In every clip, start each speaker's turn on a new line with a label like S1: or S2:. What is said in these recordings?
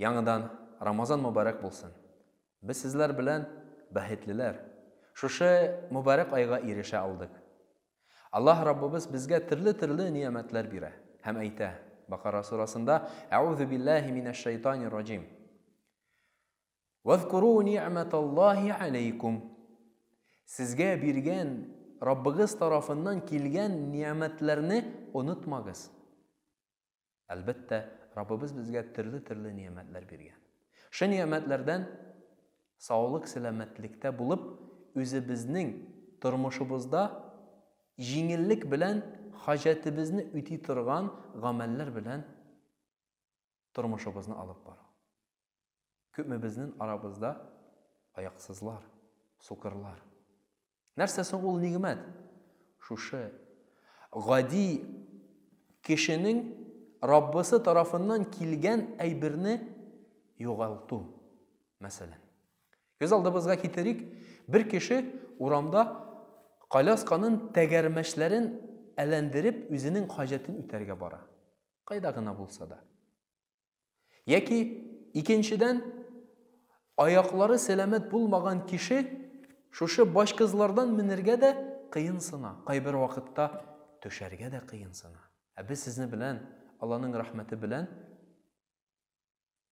S1: Яңыдан Рамазан мөбарәк булсын! Без сезләр белән бәхетлеләр, шушы мөбарәк айга ирешә алдык. Аллаһ Раббыбыз безгә төрле-төрле ниямәтләр бирә һәм әйтә, Бакара сурасында, Әгъузу биллаһи минәш шәйтанир раҗим. Вазкуру ни'маталлаһи алейкум. Сезгә биргән Раббыгыз тарафыннан килгән ниямәтләрне онытмагыз. Әлбәттә, Раббыбыз безгә төрле-төрле ниямәтләр биргән. Шы ниямәтләрдән саулык-сәламәтлектә булып, үзебезнең тормышыбызда җиңеллек белән хаҗәтебезне үти торган гамәлләр белән тормышыбызны алып бару. Күпмебезнен арабызда аяксызлар, сукырлар. Нәрсә соң ул нигъмәт? Шушы гади кешенең Раббысы тарафыннан килгән әйберне югалту, мәсәлән. Күз алдыбызга китерик, бер кеше урамда колясканын тәгәрмәчләрен әләндереп, үзенең хаҗәтен үтәргә бара. Кайда гына булса да. Яки, икенчедән, аяклары сәламәт булмаган кеше шушы башкызлардан менергә дә кыенсына, кайбер вакытта төшәргә дә кыенсына. Ә без сезне белән, Алланың рәхмәте белән,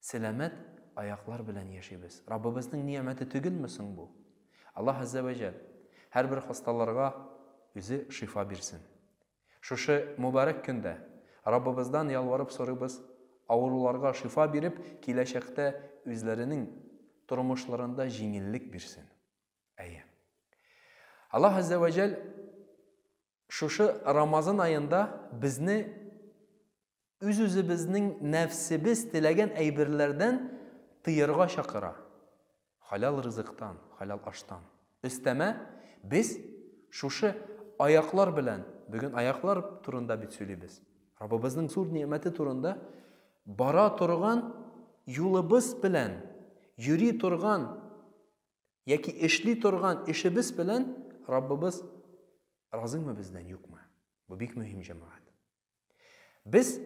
S1: сәламәт аяклар белән яшибез. Раббыбызның ниямәте түгелме соң бу? Аллаһ Аззә вә Җәл һәрбер хасталарга үзе шифа бирсен. Шушы мөбарәк көндә Раббыбыздан ялварып сорыйбыз, авыруларга шифа биреп, киләчәктә үзләренең тормышларында җиңеллек бирсен. Әйе. Аллаһ Аззә вә Җәль шушы Рамазан аенда безне үз-үзебезнең нәфсебез теләгән әйберләрдән тыярга чакыра, хәләл ризыктан, хәләл аштан. Өстәмә, без шушы аяклар белән, бүген аяклар турында бит сөйлибез, Раббыбызның зур нигъмәте турында, бара торган юлыбыз белән, йөри торган яки эшли торган эшебез белән Раббыбыз разыймы бездән, юкмы? Бу бик мөһим, җәмәгать. Без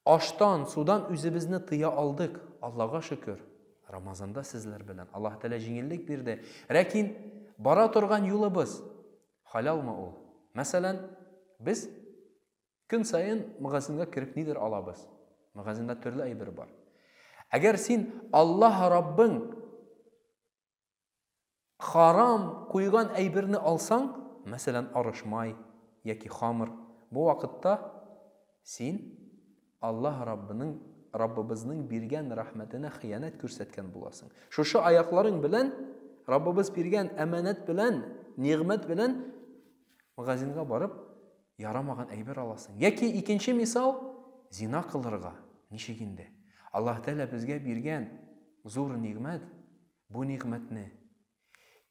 S1: аштан, судан үзебезне тыя алдык, Аллага шөкер. Рамазанда сезләр белән Аллаһ Тәгалә җиңеллек бирде. Ләкин бара торган юлыбыз халялмы ул? Мәсәлән, без көн саен магазинга кереп нидер алабыз. Магазинда төрле әйбер бар. Әгәр син Аллаһ Раббың Харам куйган әйберне алсаң, мәсәлән, арыш май яки хамыр, бу вакытта син Аллаһ Раббының, Раббыбызның биргән рәхмәтенә хыянәт күрсәткән буласың. Шушы аякларың белән, Раббыбыз биргән әманәт белән, нигъмәт белән магазинга барып, Ярамаган әйбер аласың. Яки икенче мисал, зина кылырга. Ничек инде? Аллаһ Тәгалә безгә биргән зур нигъмәт, бу нигъмәтне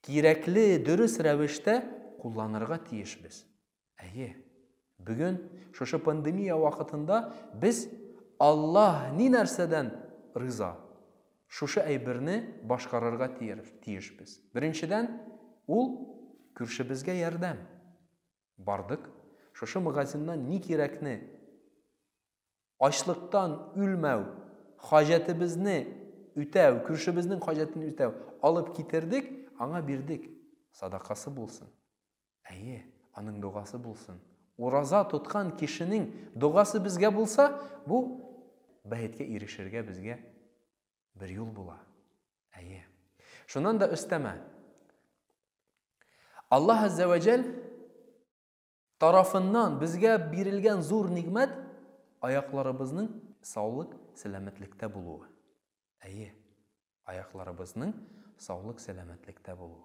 S1: кирәкле, дөрес рәвештә кулланырга тиешбез. Әйе, бүген шушы пандемия вакытында без Аллаһ ни нәрсәдән риза, шушы әйберне башкарырга тиешбез. Беренчедән, ул күршебезгә ярдәм. Бардык, шушы магазиннан ни кирәкне, ачлыктан үлмәү, хаҗәтебезне үтәү, күршебезнең хаҗәтен үтәү, алып китердек, аңа бирдек. Садакасы булсын. Әйе, аның догасы булсын. Ураза тоткан кешенең догасы безгә булса, бу бәеткә ирешергә безгә Бер юл була. Әйе. Шуннан да өстәмә. Аллаһ Аззә вә Жәл тарафыннан безгә бирелгән зур нигмәт аякларыбызның саулык, сәламәтлектә булуы. Әйе, аякларыбызның саулык, сәламәтлектә булуы.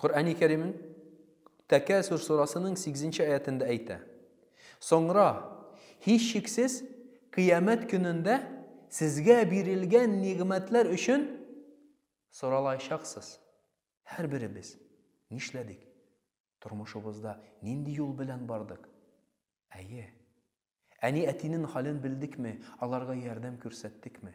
S1: Коръәни Кәримнең Тәкәсүр сурасының 8 нче аятендә әйтә. Соңра, һичшиксез, Кыямәт көнендә сезгә бирелгән нигъмәтләр өчен соралаячаксыз. Һәрберебез нишләдек? Тормышыбызда нинди юл белән бардык? Әйе. Әни-әтинең хәлен белдекме, аларга ярдәм күрсәттекме?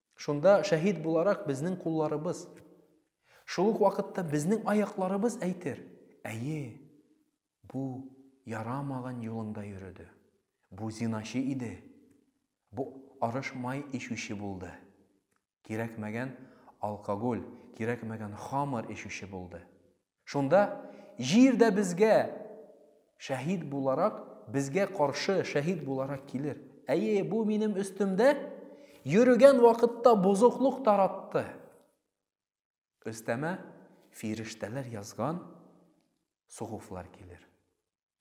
S1: Шунда шәһид буларак безнең кулларыбыз, шул ук вакытта безнең аякларыбыз әйтер, әйе, бу ярамаган юлыңда йөрүде, бу зиначы иде, бу арыш май ишүче булды, кирәкмәгән алкоголь, кирәкмәгән хамыр ишүче булды, Шунда, Җир дә безгә шәһид буларак, безгә каршы шәһид буларак килер. Әйе, бу минем өстемдә йөрегән вакытта бозыклык таратты. Өстәмә фирештәләр язган сугуфлар килер.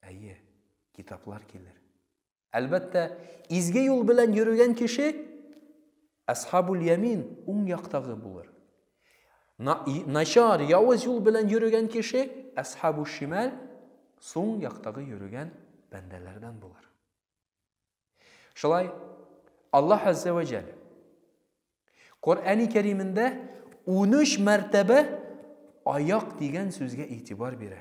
S1: Әйе, китаплар килер. Әлбәттә, изге юл белән йөрегән кеше Асхабул Ямин уң яктагы булыр. Начар, явыз юл белән йөрегән кеше Асхабул Шимал сул яктагы йөрегән бәндәләрдән булыр. Шулай Аллаһ Азза ва Җәл Коръәни Кәримендә 13 мәртәбә аяк дигән сүзгә игътибар бирә.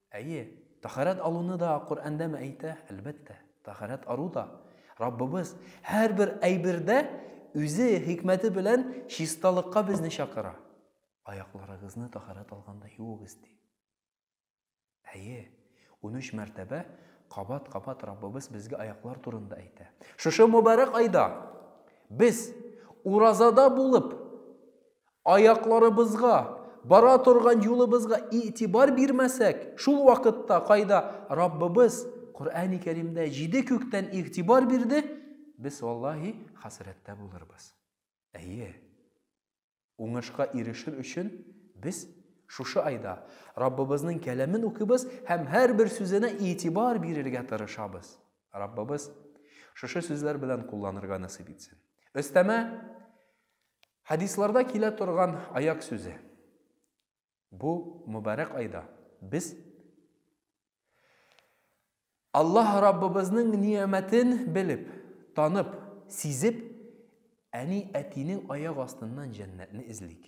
S1: Әйе, таһарәт алуны да Коръәндәме әйтә? Әлбәттә, таһарәт ару да. Раббыбыз һәрбер әйбердә Үзе хикмәте белән чисталыкка безне чакыра. Аякларыгызны таһарәт алганда юыгыз, ди. Әйе, унөч мәртәбә кабат-кабат Раббыбыз безгә аяклар турында әйтә. Шушы мөбарәк айда без уразада булып, Аякларыбызга, бара торган юлыбызга игътибар бирмәсәк, шул вакытта кайда Раббыбыз Коръәни Кәримдә җиде күктән игътибар бирде, без, валлаһи, хәсрәттә булырбыз. Әйе, уңышка ирешер өчен без шушы айда Раббыбызның кәламен укыйбыз һәм һәрбер сүзенә игътибар бирергә тырышабыз. Раббыбыз шушы сүзләр белән кулланырга насыйп итсен. Өстәмә Хәдисларда килә торган аяк сүзе. Бу мөбарәк айда без Аллаһ Раббыбызның ниямәтен белеп, танып, сизеп, әни-әтинең аяк астыннан җәннәтне эзлик.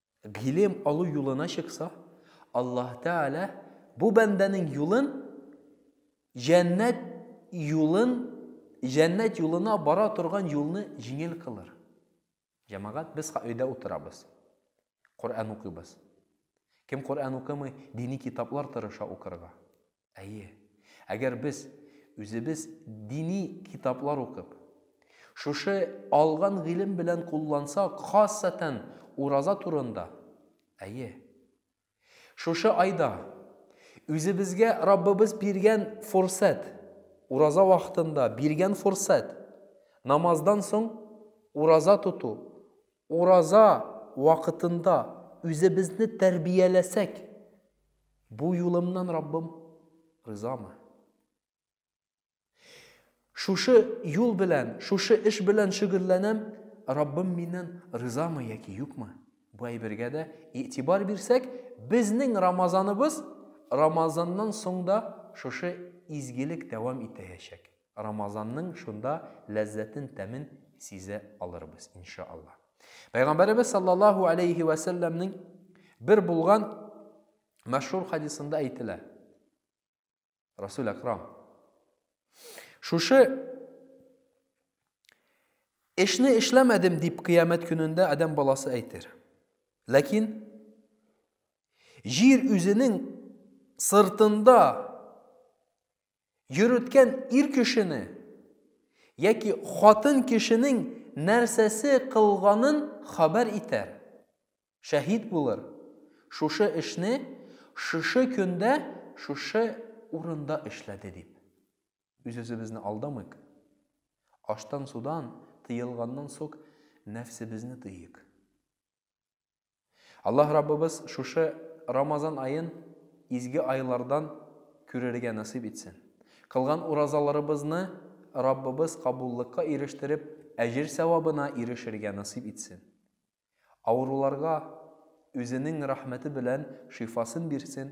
S1: Гыйлем алу юлына чыкса, Аллаһ Тәгалә бу бәндәнең юлын җәннәт юлын җәннәт юлына бара торган юлны җиңел кылыр. Җәмәгать, без өйдә утырабыз. Коръән укыйбыз. Кем Коръән укымый, дини китаплар тырыша укырга. Әйе, әгәр без үзебез дини китаплар укып, шушы алган гыйлем белән куллансак, хасатән ураза турында, әйе, шушы айда үзебезгә Раббыбыз биргән форсәт, ураза вакытында биргән форсәт, намаздан соң ураза тоту, Ураза вакытында үзебезне тәрбияләсәк, бу юлымнан Раббым ризамы? Шушы юл белән, шушы эш белән шөгыльләнәм, Раббым миннән ризамы яки юкмы? Бу әйбергә дә игътибар бирсәк, безнең Рамазаныбыз Рамазаннан соң да шушы изгелек дәвам итәячәк. Рамазанның шунда ләззәтен, тәмен сизә алырбыз, инша Аллаһ. Пәйгамбәребез саллаллаһу алейхи вә сәлләмнең бер булган мәшһүр хадисында әйтелә. Расул Акрам. Шушы эшне эшләмәдем дип кыямәт көнендә адәм баласы әйтер. Ләкин җир үзенең сыртында йөреткән ир кешене яки хатын кешенең нәрсәсе кылганын хәбәр итәр, шәһит булыр, шушы эшне шушы көндә шушы урында эшләде дип. Үзебезне алдамыйк. Аштан-судан тыелганнан сок нәфсебезне тыйыйк. Аллаһ Раббыбыз шушы Рамазан аен изге айлардан күрергә насыйп итсен. Кылган уразаларыбызны Раббыбыз кабуллыкка ирештереп, әҗер-сәвабына ирешергә насыйп итсен. Авыруларга Үзенең рәхмәте белән шифасын бирсен,